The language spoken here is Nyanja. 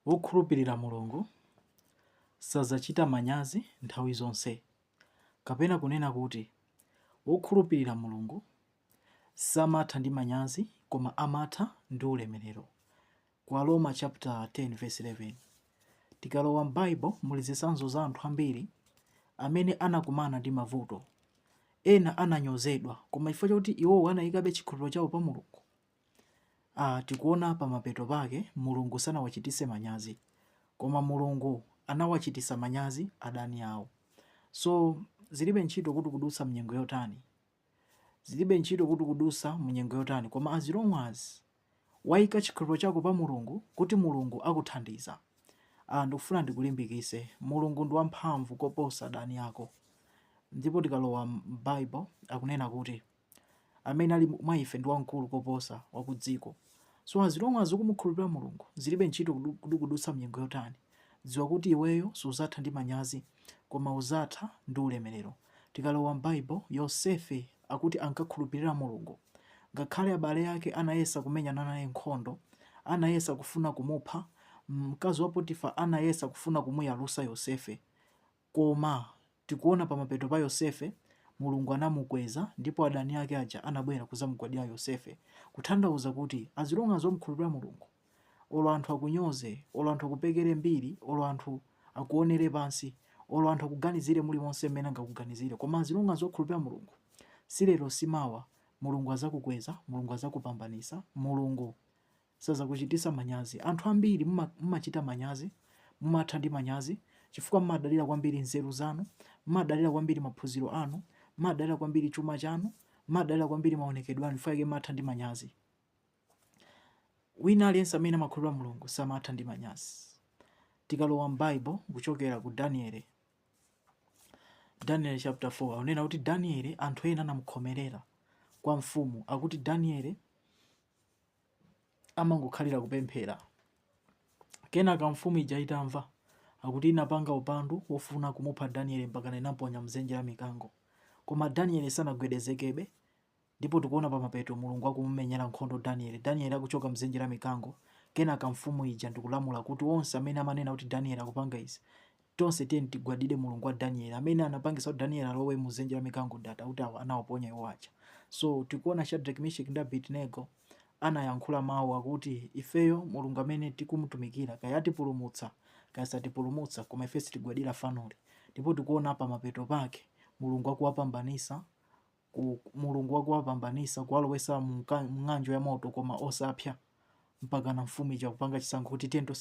Wokhulupirira Mulungu sadzachita manyazi nthawi zonse, kapena kunena kuti, Wokhulupirira Mulungu samatha ndi manyazi koma amatha ndi ulemerero. Ku Aroma chaputala 10 vesi 11 Tikalowa m'Baibulo muli zitsanzo za anthu ambiri amene anakumana ndi mavuto. Ena ananyozedwa, koma chifukwa chakuti iwowo anaikabe chikhulupiriro chawo pa Mulungu. tikuona pamapeto pake mulungu sanawachitise manyazi koma mulungu anawachitisa manyazi adani awo so zilibe ntchito kuti ukudutsa munyengo yotani zilibe ntchito kuti ukudutsa munyengo yotani koma as long as waika chikhulupiro chako pa mulungu kuti mulungu akuthandiza ndikufuna ndikulimbikise mulungu ndi wamphamvu koposa adani ako ndipo tikalowa m'bible akunena kuti amene ali mwa ife ndi wamkulu koposa wa ku dziko. So as long as ukumukhulupirira Mulungu, zilibe ntchito kuti ukudutsa mnyengo yotani, dziwa kuti iweyo suzatha ndi manyazi, koma uzatha ndi ulemerero. Tikalowa m'Bible, Yosefe akuti ankakhulupirira Mulungu. Ngakhale abale ake anayesa kumenyana naye nkhondo, anayesa kufuna kumupha, mkazi wa Potifa anayesa kufuna kumuyalusa Yosefe, Koma, tikuona pa mapeto pa Yosefe, Mulungu anamukweza ndipo adani ake aja anabwera kuzamugwadira Yosefe, kutanthauza kuti as long as wamukhulupira Mulungu, olo anthu akunyoze, olo anthu akupekere mbiri, olo anthu akuonere pansi, olo anthu akuganizire mulimonse mmene angakuganizire, koma as long as wakhulupira Mulungu, si lero si mawa, Mulungu azakukweza, Mulungu azakupambanisa, Mulungu sazakuchitisa manyazi. Anthu ambiri mumachita manyazi, mumatha ndi manyazi, chifukwa mumadalira kwambiri nzeru zanu, mumadalira kwambiri maphunziro anu, mumadalira kwambiri chuma chanu, mumadalira kwambiri maonekedwe anu, chifukwa chake mumatha ndi manyazi. Wina aliyense amene amakhulupirira Mulungu samatha ndi manyazi. Tikalowa m'Bible kuchokera ku Daniel chapter 4 akunena kuti Daniel anthu ena anamukhomerera kwa mfumu akuti Daniel amangokhalira kupemphera. Kenaka mfumu ija itamva, akuti inapanga upandu wofuna kumupha Daniele mpaka inamponya m'dzenje la mikango. Koma Daniele sanagwedezekebe, ndipo tikuona pamapeto Mulungu akumumenyera nkhondo Daniele. Daniele akuchoka m'dzenje la mikango, kenaka mfumu ija ndikulamula kuti onse amene amanena kuti Daniele akupanga izi, Tonse tiyeni tigwadire Mulungu wa Danieli amene anapangisa kuti Danieli alowe mu dzenje la mikango ndi anthu awo anawaponya iwo aja. So tikuona Shadreki, Misheki ndi Abedinego anayankhula mau akuti ifeyo Mulungu amene tikumutumikira kaya atipulumutsa kaya satipulumutsa koma ife sitigwadira fanoli. Ndipo tikuona pamapeto pake Mulungu akuwapambanisa kuwalowesa mu mng'anjo ya moto koma osapsya mpakana mfumu ija kupanga chisankho kuti tiyeni tonse